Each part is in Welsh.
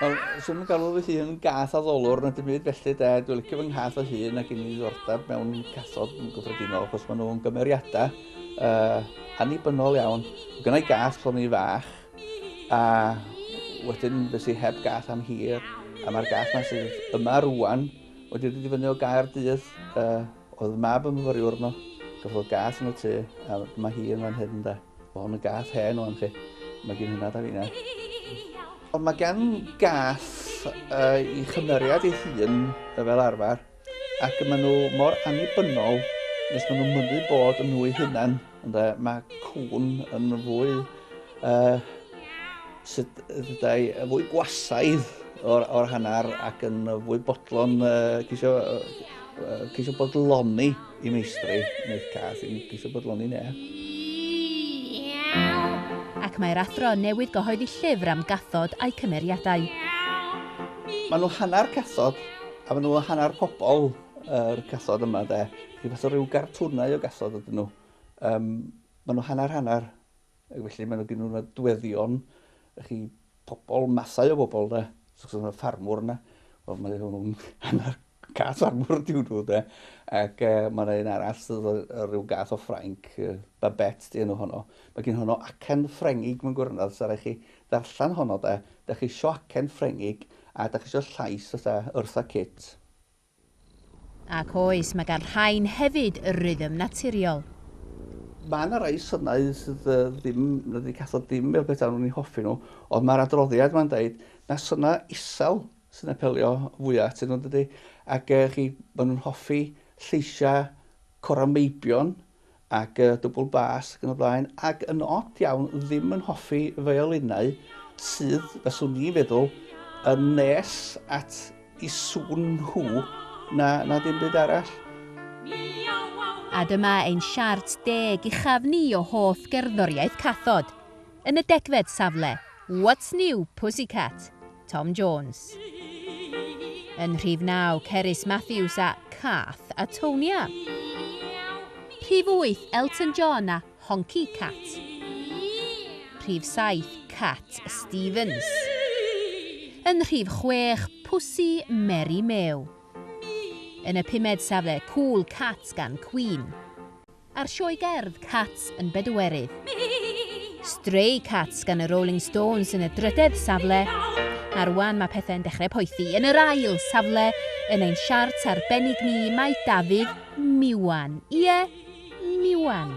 Wel, swn i'n galw fy hun gath addolwr na dim byd felly de. Dwi'n licio fy nghath o hun ac yn ei ddordeb mewn cathod yn gyffredinol achos maen nhw'n gymeriadau uh, annibynnol iawn. Gyna i gath pan i'n fach a wedyn fes i heb gath am hir a mae'r gath yma sydd yma rwan wedi dod i fyny o gair dydd uh, Oedd mab yn fyfyriwr yno, gafodd gath yn y tŷ, a mae hi yn fan hyn de. Mae hwn yn gath hen o'n chi. Mae gen hynna da finau. Ond mae gen gath uh, i chymeriad ei hun fel arfer, ac maen nhw mor annibynnol nes maen nhw'n mynnu bod yn nhw eu hunan. Ynde, mae cwn yn fwy... Uh, sut ddydau, fwy gwasaidd o'r, or hanner ac yn fwy bodlon, uh, cisio, uh, cisio bodloni i meistri, neu cath, yn cisio bodloni ne. Ac mae'r athro newydd gyhoeddi llyfr am gathod a'i cymeriadau. Maen nhw hanner cathod, a maen nhw hanner pobl. yr cathod yma de, rhyw fath o ryw gartwnau o gathod ydyn nhw. Um, maen nhw hanner hanner, ac felly maen nhw gen nhw'n adweddion, chi pobl, mathau o bobl de, so yna ffarmwr yna, wel mae nhw'n hanner cath ffarmwr diw nhw de, ac uh, mae yna un arall sydd rhyw gath o Ffrainc, uh, Babette di enw honno, mae gen honno acen Ffrengig mae'n gwrnedd, so rhaid chi ddarllen honno de, da chi eisiau acen Ffrengig, a da chi eisiau llais fatha Eartha Kitt. Ac oes, mae gan rhain hefyd rythm naturiol. Mae yna rai synau sydd ddim, na dydi cathod ddim fel petai nhw'n eu hoffi nhw, ond mae'r adroddiad yma'n deud na synau isel sy'n apelio fwya atyn nhw, dydi? Ac yy chi, maen nhw'n hoffi lleisiau corau meibion, ac y dwbl bas ac yn y blaen, ac yn od iawn ddim yn hoffi fiolinau sydd, fyswn i'n feddwl, yn nes at i sŵn nhw na, na dim byd arall. A dyma ein siart deg uchaf ni o hoff gerddoriaeth cathod, yn y degfed safle, What's New, Pussycat? Tom Jones. Yn rhif naw, Cerys Matthews a Cath a Tonia. Rhif wyth, Elton John a Honky Cat. Rhif saith, Cat Stevens. Yn rhif chwech, Pussy Mary Mew. Yn y pumed safle, Cool Cat gan Queen. A'r sioe gerdd Cats yn Bedwerydd. Stray Cats gan y Rolling Stones yn y drydedd safle, a rwan mae pethau'n dechrau poethi. Yn yr ail safle yn ein siart arbennig ni mae Dafydd Miwan. Ie, Miwan.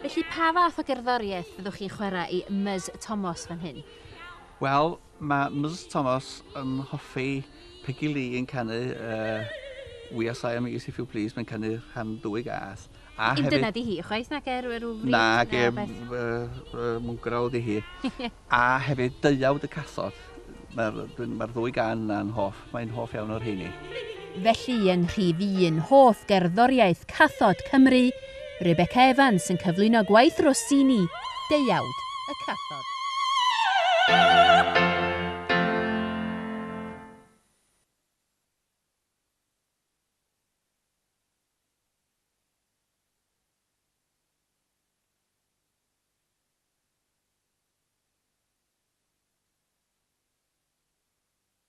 Felly pa fath o gerddoriaeth fyddwch chi'n chwarae i Ms Tomos fan hyn? Wel, Mae Ms Thomas yn hoffi Peggy Lee yn canu yy We Are Siamese If You Please, mae'n canu rhan dwy gath. A hefyd... Dyna di hi, chwaith nag er yr wfri? Nag e, mwngrawd i hi. A hefyd Deuawd y Cathod, mae'r ddwy gan yna'n hoff. Mae'n hoff iawn o'r rheini. Felly yn rhif un hoff gerddoriaeth cathod Cymru, Rebecca Evans yn cyflwyno gwaith Rossini, Deuawd y Cathod.